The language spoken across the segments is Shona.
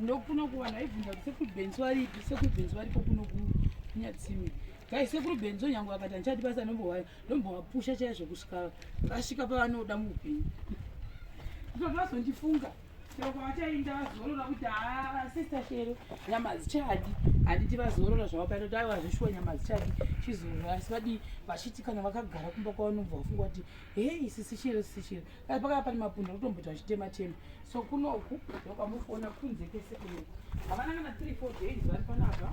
ndokuno kuvanhu aibvunza kuti sekuru benzo varipi sekuru benzo varipo kuno kunyatsimi kai sekuru benzo nyange vakati handichati basa nombohwaya ndombovapusha chaizvo kusvika vasvika pavanoda muupenyu ipapo vazondifunga Chero kwavachainda vazorora kuti haa sister Shero nyama dzichadi handiti vazorora zvavo pano kuti aiwa zveshuwa nyama dzichadi chizorora asi vadii vachiti kana vakagara kumba kwavanobva vafunga kuti hei sisi Shero sisi Shero asi pakava pane mapundu akutomboti vachitema tema so kunoku ndokwamufona kunze kese kunoku havana kana three four days vari panapa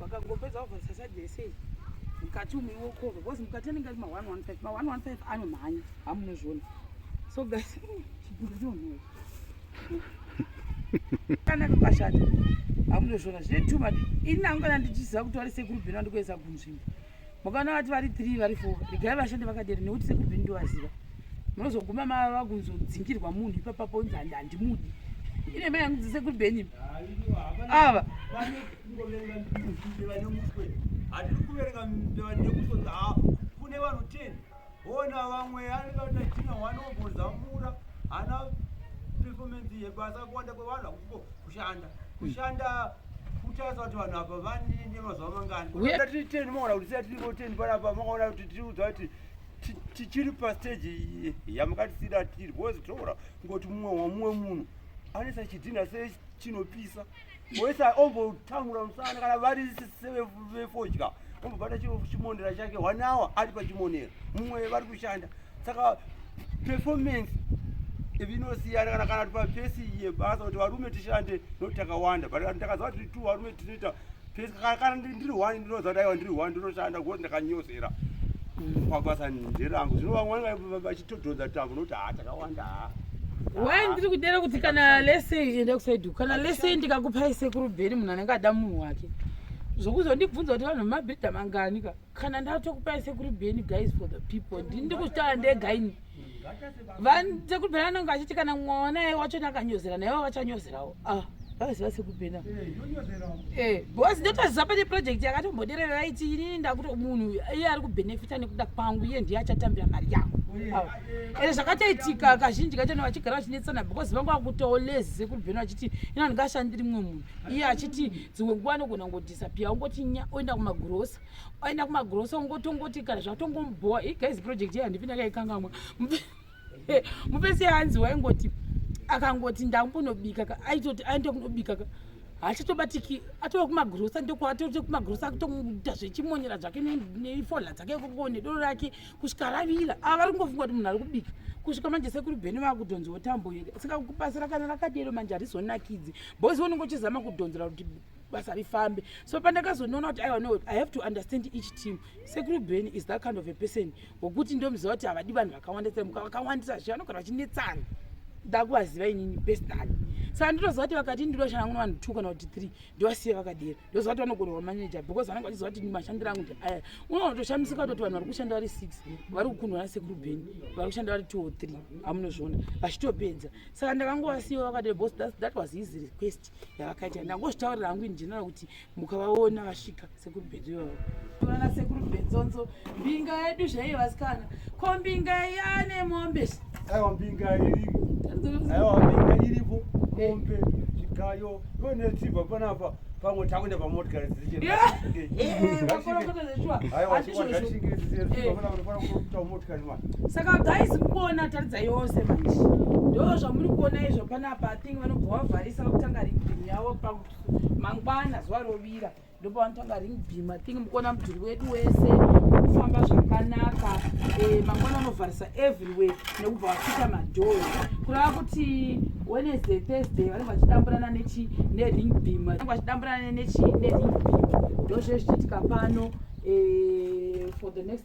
vakangopedza vavharisa side yese mukati umwe wokova because mukati anenge ari ma115 ma115 anomhanya hamunozviona so guys chibhuku chonhuwa kana kakashata hamunozviona zvine too much ini angana ndichiziva kuti wari sekuru bheno andikuendesa kunzvimbo mukaona vati vari three vari four regai vashande vakadero nekuti sekuru bheni ndovaziva munozoguma mava kunzodzingirwa munhu ipapapo unzi handi handimudi ine mai yangu dzisekuru bheni ava kune vanhu ten Ona vamwe anikaita china wanombozamura ana performance yebasa kuwanda kwevanhu akuko kushanda kushanda kutarisa kuti vanhu apa vanine mazuva mangani tiri ten maona kuti siya tirivo ten panapa makaona kuti tiriudza kuti tichiri pasteji yamakatisira tiri bhozi toora ngoti mumwe wamumwe munhu anesa chidhina se chinopisa wese ombotamura musana kana vari vefodya ombobata chimonera chake one hour ari pachimonera mumwe vari kushanda saka performance ivinosiyana kana kana tipapesi yebasa kuti varume tishande nokuti takawanda but ndakaziva tiri two varume tinoita kana ndiri one ndinoziva kuti aiwa ndiri one ndinoshanda ngokuti ndakanyosera pabasa nderangu zvino vamwe vange vachitodhonza tambo nokuti haa takawanda haa why ndiri kudera kuti kana lese enda kusaidu kana lese ndikakupai sekuru bheri munhu anenge ada munhu wake zvokuzondibvunza kuti vanhu vemabhidha mangani ka kana ndatokupai sekuru beni guys for the people ndini ndikuzvitaura ndega ini sekuru beni anenge achiti kana mwana ye wacho nakanyozera naivo vachanyozerawo ah vakaziva sekubhena eh, because ndotoziva pane project yakatomboderera iti inini ndakuti munhu iye ari kubhenefita nekuda kwangu iye ndiye achatambira mari yangu ende zvakatoitika kazhinji kacho ne vachigara vachinetsana because vanga vakutoo lezi sekubhena vachiti ina ndingashandiri mumwe munhu iye achiti dzimwe nguva anogona ngoti disappear ungoti nya oenda kumagrosa oenda kumagrosa ungoti ungoti kana zvatongomubhowa igaizi project iya handipi ndakaikangamwa mupese hanzi waingoti akangoti ndakunobika ka aitoti aenda kunobika ka hachatobatiki atova kumagrosa ndokuatote kumagrosa akutomuda zvechimonyera zvake nefola dzake koko nedoro rake kusvika ravira ava vari kungofunga kuti munhu ari kubika kusvika manje sekuri bheni vakudhonziwo tambo here saka kupasira kana rakadero manje harizonakidzi bozi unenge uchizama kudhonzera kuti basa rifambe so pandakazonoona kuti aiwa no i have to understand each team sekuru ben is that kind of a person wokuti ndomuziva kuti havadi vanhu vakawandisa muka vakawandisa zve vanogara vachinetsana ndakuvaziva inini bestani saka nditoziva kuti vakati ndiri vashanda kuno vanhu two kana kuti three ndovasiya vakadera ndoziva kuti vanogonerwa manager because vanenge vachiziva kuti mashandiro angu ndi aya unotoshamisika kutoti vanhu vari kushanda vari six vari kukundwa nasekuru ben vari kushanda vari two or three amunozviona vachitopedza saka ndakangovasiya vakadera because that was his request yavakaita ndangozvitaurira hangu in general kuti mukavaona vasvika sekuru bhenzo ivavo vana sekuru bhenzonzo mbinga yedu zvaiyo vasikana ko mbinga yane mombe aiwa mbinga iripo aiwa mbinga iripo mombe zvikayo yone tsibva panapa pamwe takuenda pamotikari dzichisaka guys mukuona taridza yose manje ndo zvamuri kuona izvo panapa thing vanobva wavharisa vakutanga ring beam yavo pakuti mangwana zuva rovira ndipo vanotanga ring beam i think mukuona mudhuri wedu wese kufamba zvakanaka eh, mangwana vanovharisa everywhere nekubva vapita madhoo kurava kuti wednesday thursday vanenge vachidamburana nechi nering beam vanenge vachidamburana nechi nering beam ndozvezvichiitika pano eh, for the next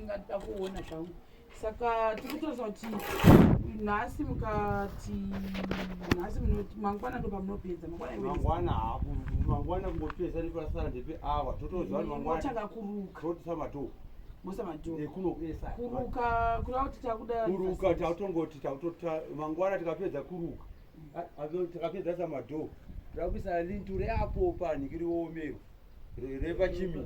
ndingada kuona zvangu saka tikutoza kuti nhasi mukati nhasi munoti mangwana ndo pamunopedza mangwanamangwana mangwana kungopedza nekurasara ndepe awa totozivaangwanatanga kuruka totisa matoo mosamatokuruka kureva kuti takuda kuruka takutongoti takutota mangwana tikapedza kuruka mm. takapedza sa madoo takuisa linture apo panhikiriomero repachimi